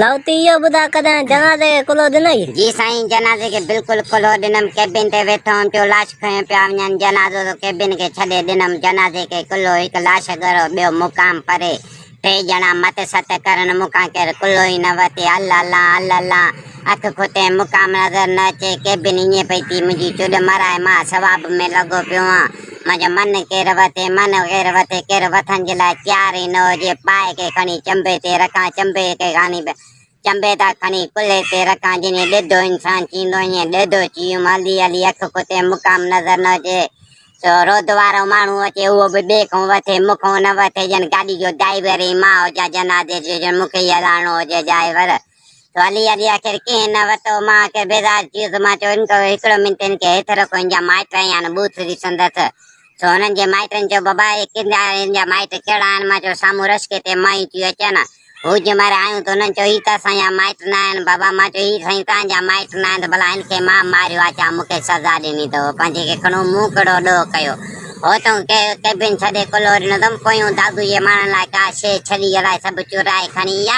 لاهوتي اهو ٻڌاء ڪڏهن جنازي کي ڪلهو ڏنئي؟ جي سائين جنازي کي بلڪل ڪلهو ڏنم ڪيبن تي ويٺو هئم جو لاش کنيو پيا وڃن جنازو ته ڪيبن کي ڇڏي ڏنم جنازي کي ڪلهو هڪ لاش ڳرو ٻيو مقام پري ٽي ڄڻا مت ست ڪرن مون کان ڪير ڪلهو ئي نه ورتي الھ الانء الھ الانء اک کوٽيم مقام نظر نه اچي ڪيبن ائين پئي ٿي منهنجي چڏ مرائي مان ثواب ۾ لڳو پيو هئان منهنجو من ڪير وتي، من غير وتي، ڪير وٿن جي لاء تيار ئي نه هجي، پائي کي کڻي چنبي تي رکان، چنبي کي کڻي به چنبي تان کڻي ڪلهي تي رکان، جيئن ڏيڌو انسان چيندو ائين ڏيڌو چيم، هلي هلي اک ڪتي مقام نظر نه اچي، سو رود وارو ماڻهو اچي اهو به ٻئي کان وٿي، مون کان نه وٿي، ڄڻ گاڏي جو ڊائيور ئي مان هجان، جنازي جو ڄڻ مون کي ئي هلائڻو هجي ڊائيور. والي علي آخر ڪنهن نه وتو، مان آخر بيزار ٿي ويس، مان چيو ان ڪو هڪڙو منٽ هن کي هيٺ رکو، هن جا مائٽ آهن يا نه ٻوٿ ڏسندس، سو هنن جي مائٽن چيو بابا اهي ڪن آهن هن جا مائٽ ڪهڙا آهن، مان چيو سامهون رشڪي تي مايون ٿيون اچن، هو جنهن مهل آيون ته هنن چيو هي ته اسان جا مائٽ نه آهن بابا، مان چيو هي سائين توهان جا مائٽ نه آهن ته ڀلا هن کي مان ماريو آ ڇا مون کي سزا ڏني اٿو پنهنجي کي کڻو مون ڪهڙو ڏوهه ڪيو هو تون ڪيبن ڇڏي ڪلهو ڏنو اٿم، پويون دادوء جي ماڻهن لاء ڪا شيء ڇلي الائي سڀ چورائي کڻي ايا،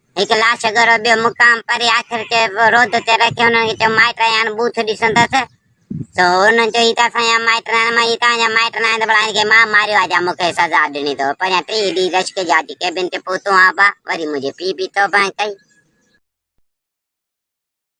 هڪ لاش ڳرو ٻيو مقام پري آخر کي رود تي رکي انهن کي چيو مائٽ آيان بوٿ ڏسندس سو انهن چيو هي ته اسان جا مائٽ ناهن مان هي تان جا مائٽ ناهن ته ڀلا هن کي مان ماريو آهي جا مون کي سزا ڏني اٿو پنهنجا ٽي ڏينهن رشڪ جا اچي ڪيبن تي پهتو آهان با وري منهنجي پي به توبه ڪئي